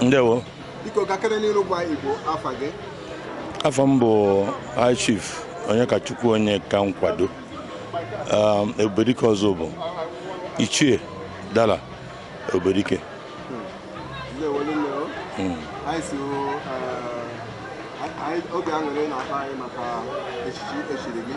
ndewo biko gakene n'iru gwa igbo afa gị afa m bụ high chief Onyekachukwu Onyeka Nkwado um, ebubedike Ozubulu ichie dala ebubedike hmm. uh, oke aṅụrị na-akpa anyị maka echichi e chiri gị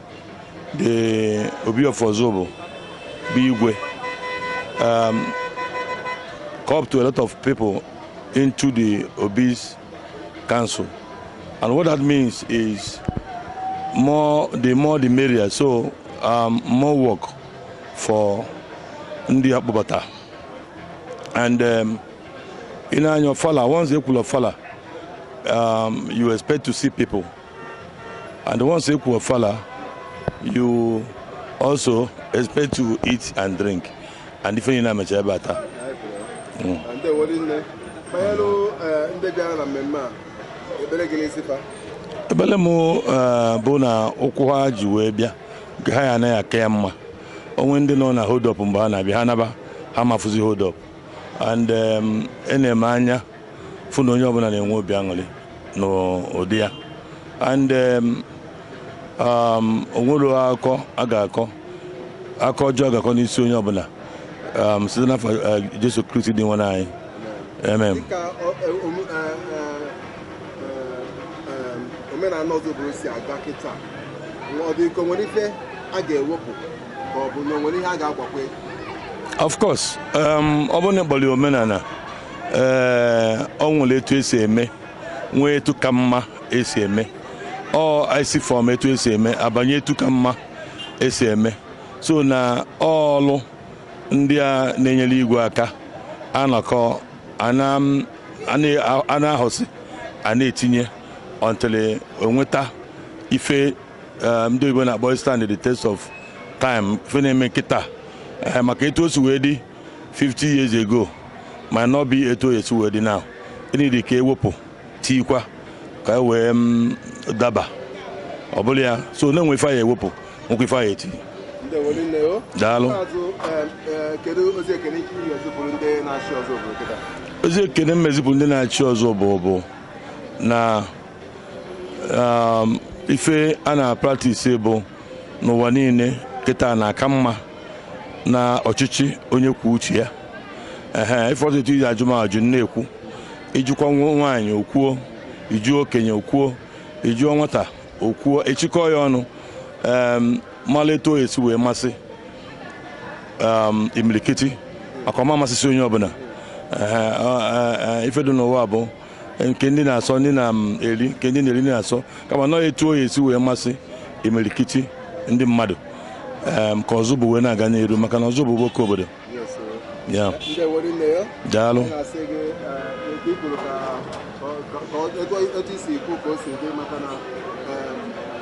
The Obi of Ozubulu bụ igwe um, co-opted a lot of people into the Obi's council and what that means is more the more the merrier so um, more work for ndị a kpọbata and um, in anya ofala once e kwuo ofala um, you expect to see people And once e kwuo ofala, you also expect to eat and drink. And ife niine mecha ebe a taa. Mm. Ekpele m eh, bụ na ụkwụ ha ji wee bịa nke ha ya-ana ya-aka mma o nwere ndị nọ na hold up mgbe ha na-abịa ha naba ha ma afụzi hold up and um, enee m anya fụ na onye ọbụla na-enwe obi aṅụrị n'ụdị ya and um, um, o nwerọ akọ a ga-akọ akọ ọjọọ a ga-akọ n'isi onye ọbụla um, site n'afa uh, Jesu Kristi Dinwenu anyị amen dịka ọ- e- omu- e- e- e- em, omenala Ozubulu si aga kịta ọ dị ka o nwere ife a ga-ewepụ ka ọ bụ na o nwere ihe a ga-agbakwe of course um, ọ bụrụ na ị kpọrọ ya omenala ee o nwere etu esi eme nwee etu ka mma esi eme ọ esi from etu esi eme abanye etu ka mma esi eme so na ọlụ ndị a na-enyere igwe aka a nọkọọ a na-ahọsị a na-etinye until e nweta ife eh, ndị oyibo na-akpọ stand the test of time ife na-eme kịta eh, maka etu o si wee dị 50 years ago might not be etu o si wee dị now e need ka e wepụ tikwa ka e wee mm, daba ọ bụla ya so na e nwe ife a ya-ewepụ nwekwa ife a ya-eti daalụ ozi ekene m na-ezipụrụ ndị na-achị Ozubulu bụ na um, ife a na-apractise bụ n'ụwa niile kịta na-aka mma na ọchịchị onye kwuo uche ya ehe ị fụrụ etu i ji ajụ m ajụ m na-ekwu ị jụkwa nwa- nwaanyị o kwuo ị jụọ okenye o kwuo ị jụọ nwata o kwuo e chịkọọ ya ọnụ em, mala etu ọ ya-esi wee masị em, imilikiti maka ọ ma amasịsị onye ọbụla Ehe, ọ- ọ- ọ, ife dị n'ụwa bụ nke ndị na-asọ ndị na-eri nke ndị na-eri na-asọ kama nọ etu oyi esi wee masị imirikiti ndị mmadụ ka ọzọ bụ wee na-aga n'elu maka na ọzọ bụ oke obodo ya daalụ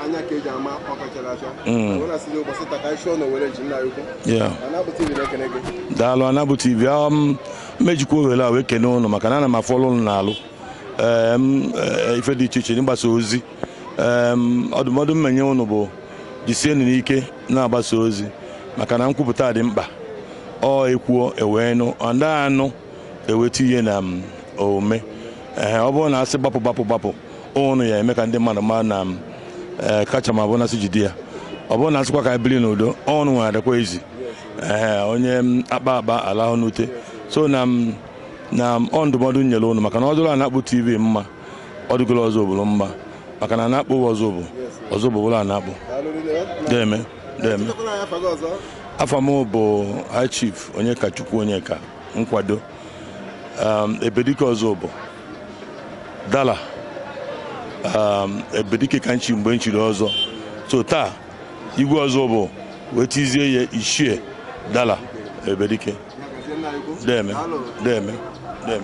anya ka eji ama ọ kachara acha ụbọchị taka isi ọ na owere ji nna ya ukwu daalụ anabụ tv m ejikwa ohere a wee kene ụnụ maka na ana m afụ ọlụ ụnụ na-alụ e, ife dị iche iche n'ịgbasa ozi ọdụmọdụ m enye ụnụ bụ jisienụ n'ike na-agbasa ozi maka na nkwupụta dị mkpa ọ e kwuo e wee nụ and a nụ e wee tinye na omume ee ọ bụrụ na a sị gbapụ gbapụ gbapụ ụnụ ya-eme ka ndị mmadụ maa na e, kacha mma bụ na a sị jide ya ọ bụrụ na a sịkwa ka e biri n'udo ụnụ were adịkwa ezi ee onye akpa akpa alahụ n'ute so na m na m ọ ndụmọdụ m nyere ụnụ maka na ọ dịrị Anakpụ tv mma ọ dịgoro Ozubulu mma maka na Anakpụ wụ Ozubulu Ozubulu bụlụ Anakpụ deme deme afa m bụ high chief Onyekachukwu Onyeka Nkwado um, ebedike Ozubulu dala um, ebedike ka m chi mgbe m chiri ọzọ so taa igwe Ozubulu wee tizie ya ichie dala ebedike deme deme deme